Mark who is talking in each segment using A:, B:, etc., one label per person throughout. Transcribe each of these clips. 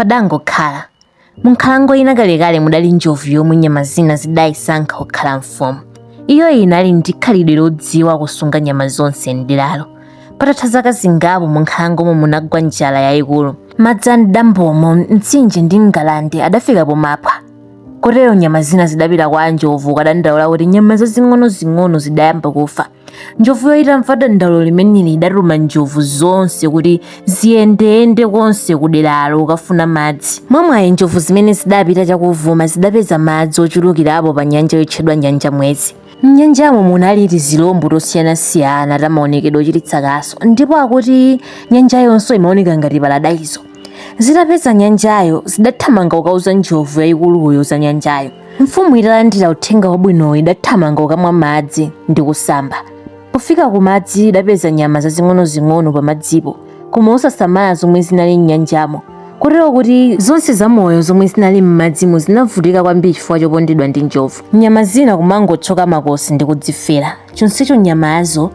A: padangokhala. Munkhalango ina kalekale mudali njovu yomwe nyama zina zidayisankha kukhala mfumu. Iyo inali ndi khalidwe lodziwa kusunga nyama zonse m'deralo. Patatha zaka zingapo munkhalangomo munagwa njala yayikulu. Madzi a m'dambomo, mtsinje ndi ngalande adafika pomaphwa. Kotero nyama zina zidapita kwa njovu kukadandaula kuti nyama zazing'onozing'ono zidayamba kufa. njovuyo itamva dandaulo limeneli idatuma njovu zonse kuti ziyendeyende konse ku deralo kukafuna madzi mwamwayi njovu zimene zidapita chakuvuma zidapeza madzi ochulukirapo pa nyanja yotchedwa nyanja mwezi m'nyanjamo munali tizilombo tosiyanasiyana tamaonekedwe ochititsa kaso ndipo akuti nyanja yonse imaoneka ngati paradaiso zitapeza nyanjayo zidathamanga kukauza njovu yayikuluyo za nyanjayo mfumu italandira uthenga wabwinowo idathamanga kukamwa madzi ndi kusamba pofika ku madzi idapeza nyama zazing'onozing'ono pa madzipo koma osasamala zomwe zinali m'nyanjamo kotero kuti zonse zamoyo zomwe zinali m'madzimo zinavutika kwambiri chifukwa chopondedwa ndi njovu nyama zina kumangothyoka makosi ndi kudzifera chonsecho nyamazo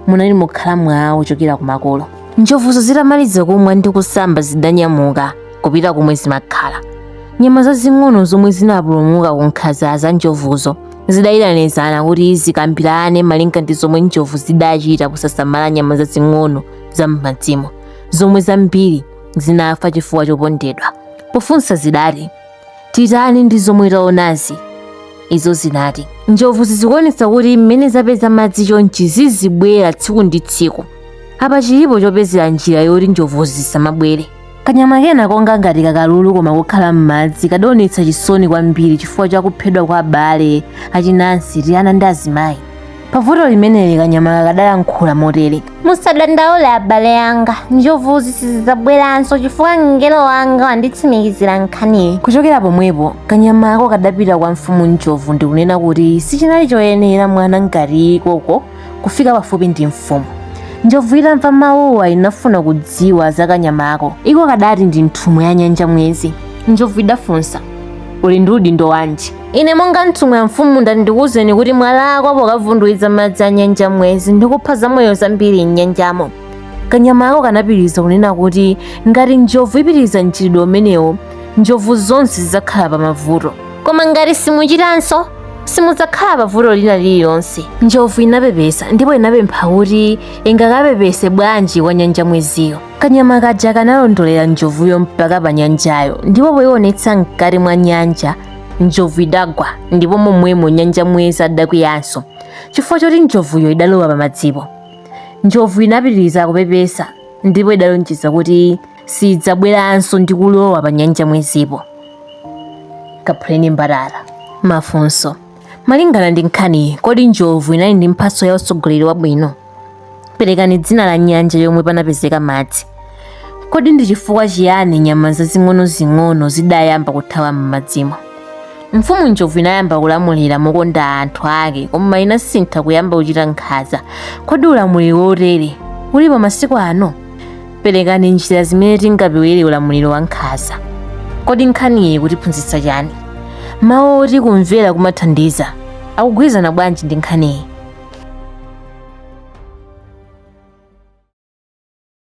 A: munali mokhala mwawo kuchokera kumakolo njovuzo zitamaliza kumwa ndi kusamba zidanyamuka kupita komwe zimakhala nyama zazing'ono zomwe zinapulumuka ku nkhanza za njovuzo zidayitanizana kuti zikambirane malinga ndi zomwe njovu zidachita kusasamala nyama zazing'ono za m'madzimo zomwe zambiri zinafa chifukwa chopondedwa pofunsa zidati titani ndi zomwe taonazi izo zinati njovuzi zikuonetsa kuti mmene zapeza madzi chonchi zizibwera tsiku ndi tsiku apa chilipo chopezera njira yoti njovu zisamabwere kanyama kena konga ngati kakalulu koma kokhala m'madzi kadaonetsa chisoni kwambiri chifukwa cha kuphedwa kwa abale achinansi tiana ndi azimayi pavuto limeneli kanyamaka kadalankhula motere musadandaule abale anga njovuzi sizidzabweranso chifukwa mngelo wanga wanditsimikizira nkhaniyi kuchokera pomwepo kanyamako kadapita kwa mfumu njovu ndikunena kuti sichinali choyenera mwana ngati iko kufika pafupi ndi mfumu njovu itamva mawuwa inafuna kudziwa za kanyamako iko kadati ndi nthumwi ya nyanja mwezi njovu idafunsa uli ndi udindo wanji ine monga nthumwi ya mfumu ndati ndikuwuzeni kuti mwalakwa pokavundula madzi a nyanja mwezi ndikupha zamoyo zambiri m'nyanjamo kanyamako kanapitiriza kunena kuti ngati njovu ipitiriza mchitidwe umenewo njovu zonse zidzakhala pa mavuto koma ngati simuchitanso simudzakhala pa vuto lina lililonse njovu inapepesa ndipo inapempha kuti ingakapepese bwanji kwa nyanja mweziyo kanyama kaja kanalondolera njovuyo mpaka pa nyanjayo ndipo poionetsa mkati mwa nyanja njovu idagwa ndipo momwemo nyanja mwezi adakwiyanso chifukwa choti njovuyo idalowa pamadzipo njovu inapitiriza kupepesa ndipo idalonjeza kuti sidzabweranso ndi kulowa pa nyanja mwezipo kaphuleni mbarara mafunso malingana ndi nkhaniyi kodi njovu inali ndi mphatso ya utsogoleri wabwino perekani dzina la nyanja yomwe panapezeka madzi kodi ndi chifukwa chiyani nyama zazing'onozing'ono zidayamba kuthawa m'madzimo mfumu njovu inayamba kulamulira mokonda anthu ake koma inasintha kuyamba kuchita nkhaza kodi ulamuliro wotere ulipo masiku ano Perekani njira zimene tingapewere ulamuliro wa nkhaza. Kodi nkhaniyi ikutiphunzitsa chani? Mawu oti kumvera kumathandiza akugwirizana bwanji ndi nkhaniyi?